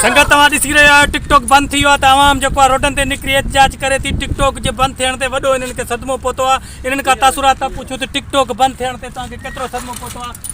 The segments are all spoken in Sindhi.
سنگت اوهان ڏسي رهيا آهيو ٽڪ ٽاڪ بند ٿي ويو آهي ته عوام جيڪو آهي روڊن تي نڪري احتجاج ڪري ٿي ٽڪ ٽاڪ جي بند ٿيڻ تي وڏو انهن کي صدمو پهتو آهي انهن کان تاثرات پڇون ته ٽڪ ٽاڪ بند ٿيڻ تي توهان کي ڪيترو صدمو پهتو آهي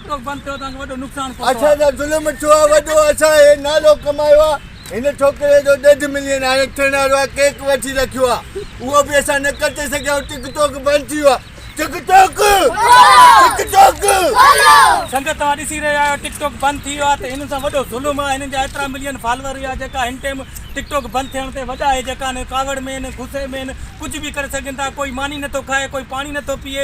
اسان سان ظلم ٿيو آهي وڏو، اسان هي نالو ڪمايو آهي. هن ڇوڪري جو ڏيڍ ملين هاڻي ٿيڻ وارو آهي، ڪيڪ وٺي رکيو آهي، اهو به اسان نه ڪٽي سگهيا آهيون، ٽڪ ٽوڪ بند ٿي ويو آهي، ٽڪ ٽوڪ، ٽڪ ٽوڪ. سنگت توهان ڏسي رهيا آهيو ٽڪ ٽوڪ بند ٿي ويو آهي ته هنن سان وڏو ظلم آهي، هنن جا ايترا ملين فالوور هيا جيڪا هن ٽيم ٽڪ ٽوڪ بند ٿيڻ تي وڏا هي جيڪا هن ڪاوڙ ۾ هن غصي ۾ هن ڪجهه به ڪري سگهن ٿا، ڪوئي ماني نٿو کائي، ڪوئي پاڻي نٿو پيئي،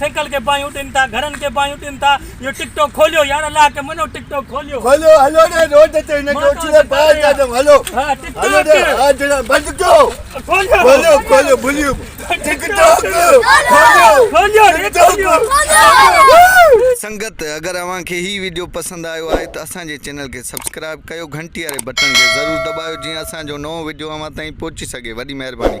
سيڪل کي باهيون ڏين ٿا گهرن کي باهيون ڏين ٿا اهو ٽڪ ٽوڪ کوليو يار الله کي مڃو ٽڪ ٽوڪ کوليو کوليو هلو ڏي روڊ تي هن کي اڇلي باهه ڏيا اٿم هلو هلو ڏي ها جنا بند ڪيو کوليو کوليو کوليو بليو ٽڪ ٽوڪ کوليو کوليو ٽڪ ٽوڪ سنگت اگر اوهان کي هي ويڊيو پسند آيو آهي ته اسان جي چينل کي سبسڪرائب ڪيو گهنٽي واري بٽڻ کي ضرور دٻايو جيئن اسان جو نئون ويڊيو اوهان تائين پهچي سگهي وڏي مهرباني.